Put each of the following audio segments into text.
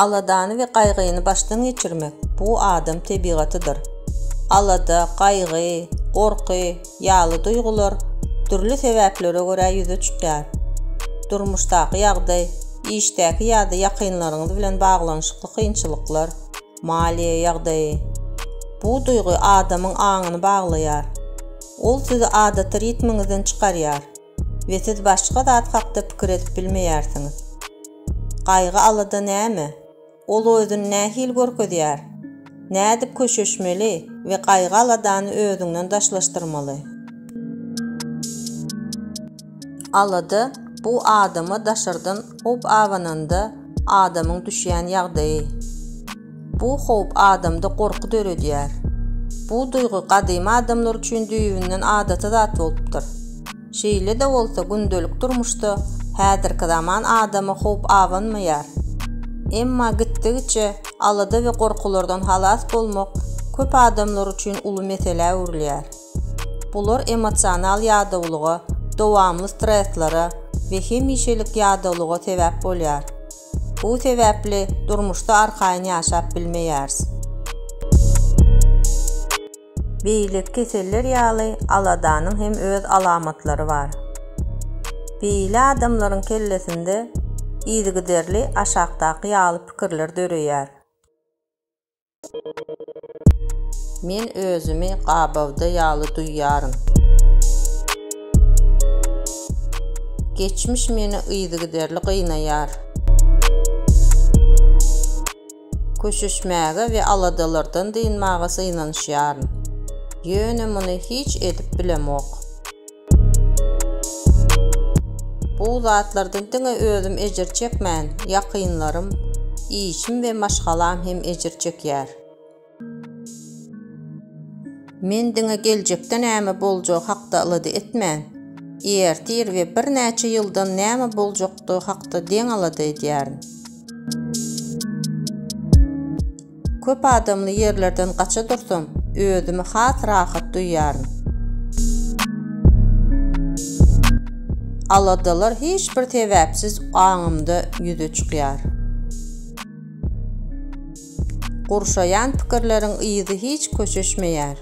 Aladany we gaýgyny başdan geçirmek, bu adam tebigatydyr. Alada, gaýgy, gorky ýaly duýgular dürli sebäplere görä ýüze çykýar. Durmuşdaky ýagdaý, işdäki ýa-da ýakynlaryňyz bilen baglanyşykly kynçylyklar, maliýe ýagdaýy. Bu duýgy adamyň aňyny baglaýar. Ol sizi adaty ritmiňizden çykarýar. we siz başga zat hakda pikir edip bilmeýärsiňiz. Gaýgy-alada näme? Ol özüni nähili görkezýär? Nädip köşeşmeli we gaýgy-aladany özüňden daşlaşdyrmaly? Alada, bu adama daşardan howp abananda adamyň düşýän ýagdaýy. Bu howp adamda gorky döredýär. Bu duýgy gadymy adamlar üçin düýbünden adaty zat bolupdyr. Şeýle-de bolsa, gündelik durmuşda häzirki zaman adamy howp abanmaýar. Emma gitdigiçe alada we gorkulardan halas bolmak köp adamlar üçin uly meselä öwrülýär. Bular emosional ýadawlyga, dowamly stresslere we hemişelik ýadawlyga sebäp bolýar. Bu sebäpli durmuşda arkaýyn ýaşap bilmeýäris. Beýleki keseller ýaly aladanyň hem öz alamatlary bar. Beýle adamlaryň kellesinde yzygiderli aşakdaky ýaly pikirler döreýär. Men özümi gabawda ýaly duýýaryn. Geçmiş meni yzygiderli gynaýar. Köşeşmäge we aladalardan dynmaga synanyşýaryn. Ýöne muny hiç edip bilemok. Bu zatlardan diňe özüm ejir çekmän, ýakynlarym, işim we maşgalam hem ejir çekýär. Men diňe geljekde näme boljagy hakda alada etmän, ertir we birnäçe ýyldan näme boljakdygy hakda deň alada edýärin. Köp adamly ýerlerden gaça dursam, özümi has rahat duýýaryn. Aladalar hiç bir sebäpsiz aňymda ýüze çykýar. Gurşaýan pikirleriň yzy hiç köşeşmeýär.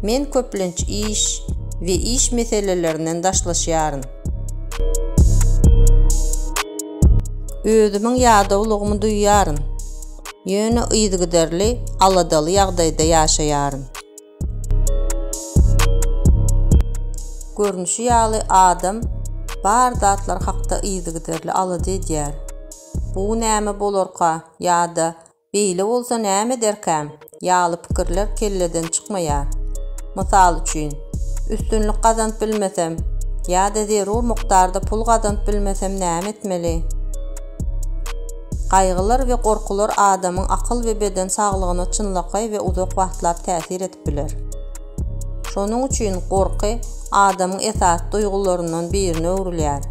Men köplenç iş we iş meselelerinden daşlaşýaryn. Özümiň ýadawlygymy duýýaryn, ýöne yzygiderli aladaly ýagdaýda ýaşaýaryn. Görnüşi ýaly, adam bar zatlar hakda yzygiderli alada edýär. Bu näme bolarka ýa-da Beýle bolsa näme ederkäm? ýaly pikirler kelleden çykmaýar. Mysal üçin, Üstünlik gazanyp bilmesem ýa-da zerur mukdarda pul gazanyp bilmesem näme etmeli? Gaýgylar we gorkular adamyň akyl we beden saglygyna çynlakaý we uzak wagtlap täsir edip biler. Şonuň üçin gorky adamyň esasy duýgularyndan birine öwrülýär.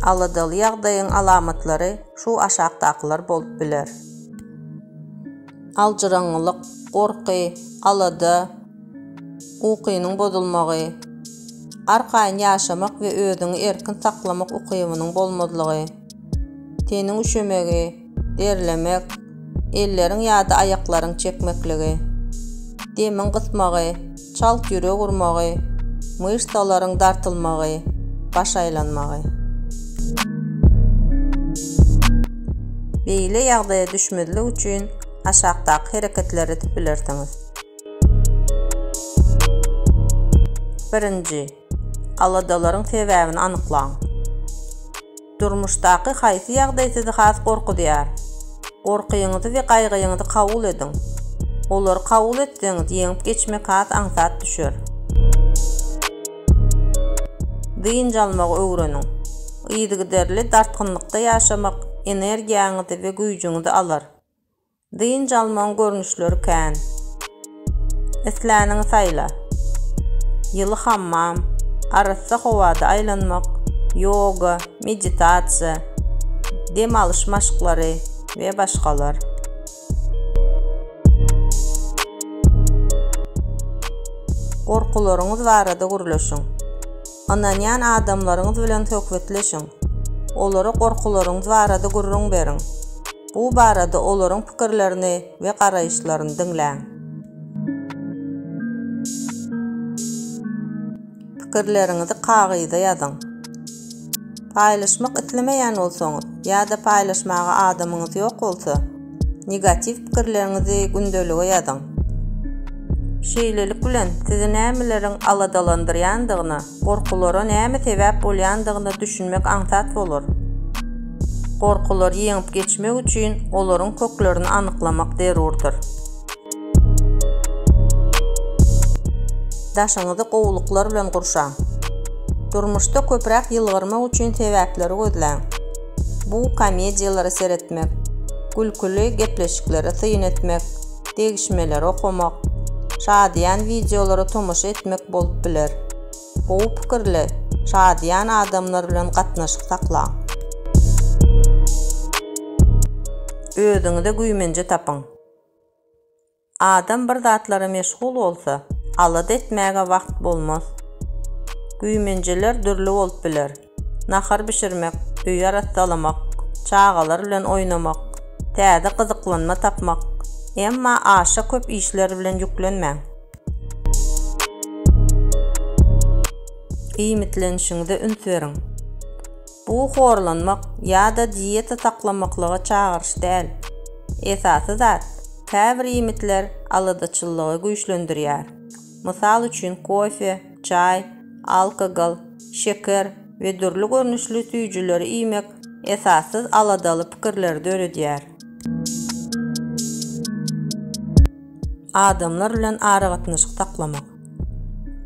Aladaly ýagdaýyň alamatlary şu aşakdakylar bolup biler. Aljyraňňylyk, gorky, alada, ukynyň bozulmagy, arkaýyn ýaşamak we özüňi erkin saklamak ukybynyň bolmazlygy, teniň üşemegi, derlemek, elleriň ýa-da aýaklaryň çekmekligi, demiň gysmagy, çalt ýürek urmagy, myşsalaryň dartylmagy, baş aýlanmagy. Beýle ýagdaýa düşmezlik üçin aşakdaky hereketleri edip bilersiňiz. Birinji, aladalaryň sebäbini anyklaň. Durmuşdaky haýsy ýagdaý sizi has gorkuzýar? Gorkyňyzy we gaýgyňyzy kabul ediň. Olary kabul etseňiz, ýeňip geçmek has aňsat düşer. Dynç almagy öwreniň. Yzygiderli dartgynlykda ýaşamak energiýaňyzy we güýjüňizi alar. Dynç almagyň görnüşleri kän. Islänini saýla. Ýyly hammam, arassa howada aýlanmak, ýoga, meditasiýa, dem alyş maşklary we başgalar. Gorkularyňyz barada gürleşiň. Ynanýan adamlaryňyz bilen söhbetleşiň. Olara gorkularyňyz barada gürrüň beriň. Bu barada olaryň pikirlerini we garaýyşlaryny diňläň. Pikirleriňizi kagyza ýazyň. Paýlaşmak islemeýän bolsaňyz ýa-da paýlaşmaga adamyňyz ýok bolsa, Negatiw pikirleriňizi gündelige ýazyň. Şeýlelik bilen, sizi nämeleriň aladalandyrýandygyna, gorkulara näme sebäp bolýandygyna düşünmek aňsat bolar. Gorkulary ýeňip geçmek üçin olaryň köklerini anyklamak zerurdyr. Daşyňyzy gowulyklar bilen gurşaň. Durmuşda köpräk ýylgyrmak üçin sebäpleri gözläň. Bu komediýalary seretmek, gülküli gepleşiklere syn etmek, degişmeleri okamak, şadyýan wideolara tomaşa etmek bolup biler. Gowy pikirli, şadyýan adamlar bilen gatnaşyk saklaň. Özüňize güýmenje tapyň. Adam bir zatlara meşgul bolsa, alada etmäge wagt bolmaz. Güýmenjeler dürli bolup biler. Nahar bişirmek, öýi arassalamak, çagalar bilen oýnamak, täze gyzyklanma tapmak, emma aşa köp işler bilen ýüklenmäň. Iýmitlenişiňize üns beriň. Bu horlanmak ýa-da dieta saklamaklyga çagyryş däl. Esasy zat, käbir iýmitler aladaçyllygy güýçlendirýär. Mysal üçin kofe, çaý, alkogol, şeker we dürli görnüşli süýjüleri iýmek esassyz aladaly pikirleri döredýär. Adamlar bilen aragatnaşyk saklamak.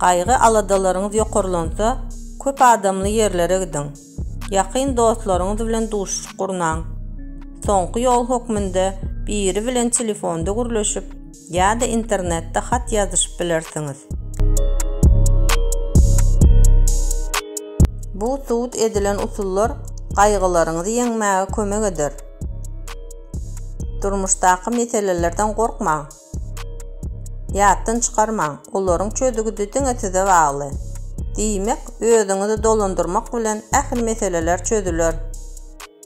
Gaýgy-aladalaryňyz ýokarlansa, köp adamly ýerlere gidiň. Ýakyn dostlaryňyz bilen duşuşyk gurnaň. Soňky ýol hökmünde biri bilen telefonda gürleşip ýa-da internetde hat ýazyşyp bilersiňiz. Bu subut edilen usullar gaýgylaryňyzy ýeňmäge kömek eder. Durmuşdaky meselelerden gorkmaň. Ýatdan çykarmaň, olaryň çözügidi diňe size bagly. Diýmek, özüňizi dolandyrmak bilen ähli meseleler çözüler.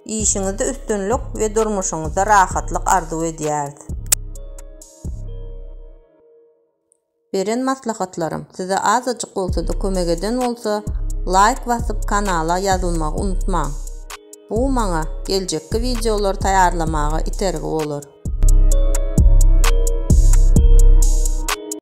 Işiňizde üstünlik we durmuşyňyzda rahatlyk arzuw edýäris. Beren maslahatlarym size azajyk bolsada kömek eden bolsa, laýk basyp kanala ýazylmagy unutmaň. Bu maňa geljekki wideolary taýýarlamaga itergi bolar.